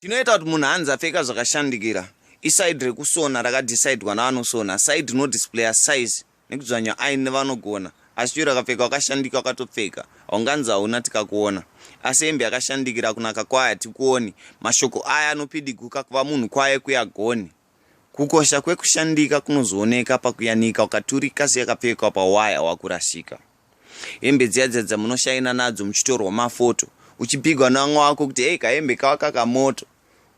Chinoita kuti munhu anzi apfeka zvakashandikira isaidi rekusona rakadhisaidwa navanosona saidi inodisplaya size nekudzvanya aini nevanogona asi chero akapfeka wakashandika wakatopfeka haunganzi hauna tikakuona asi hembe yakashandikira kunaka kwayo hatikuoni mashoko aya anopidiguka kuva munhu kwaye kuyagoni kukosha kwekushandika kunozooneka pakuyanika wakaturika seyakapfekwa pawaya wakurasika Hembe dziya dziya dzamunoshaina nadzo muchitorwa mafoto uchipigwa navamwe wako kuti hei kahembe kawa kakamoto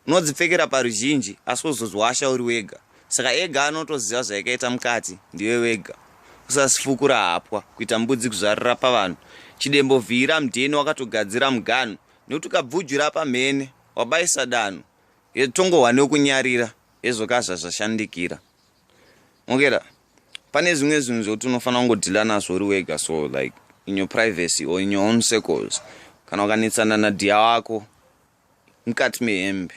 unodzipfekera paruzhinji asi wozozwasha uri wega saka ega anotoziva zvaikaita mukati ndiwe wega usasifukura hapwa kuita mbudzi kuzvarira pavanhu chidembo vhiira mdheni wakatogadzira muganhu nekuti ukabvujura pamhene wabaisa danho tongohwa nekunyarira hezvo kazvazvashandikira mokera pane zvimwe zvinhu zvokuti unofanira kungodhila nazvo uri wega so like in your privacy or in your own circles kana ukanetsana nadhiya wako mukati mehembe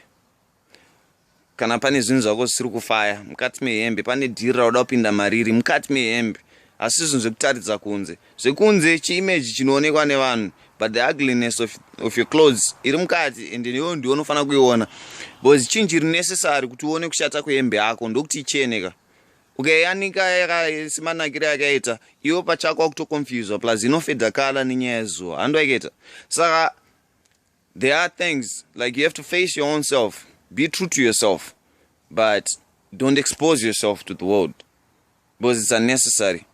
kana pane zvinhu zvako zvisiri kufaya mukati mehembe pane dhiri rauda kupinda mariri mukati mehembe asi zvinhu zvekutaridza kunze zvekunze chiimage chinoonekwa nevanhu but the ugliness of, of your clothes iri mukati and iwo ndiwo unofanira kuiona because chinji iri necessary kuti uone kushata kwehembe yako ndokuti icheneka ukaiyanika okay, simanakiro yakaita iwo pachako wakutoconfuswa plus inofedha kala nenyaya yezuva handi waikaita saka There are things like you have to face your own self, be true to yourself, but don't expose yourself to the world because it's unnecessary.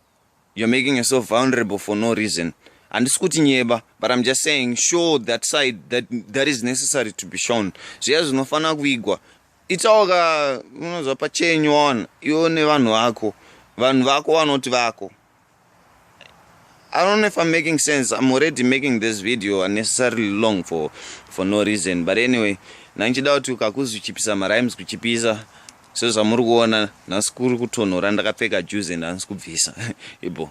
You're making yourself vulnerable for no reason. And it's kuti nyeba, but I'm just saying show that side that that is necessary to be shown. Zviya zvinofanira kuigwa. Itawo ka unozwa pachenyu wana iwo nevanhu vako. Vanhu vako vanoti vako. I don't know if I'm making sense. I'm already making this video unnecessarily long for for no reason. But anyway, nanchida kuti ukakuzi uchipisa marimes kuchipisa sezvamuri kuona nhasi kuri kutonhora ndakapfeka juzi and hansi kubvisa ibo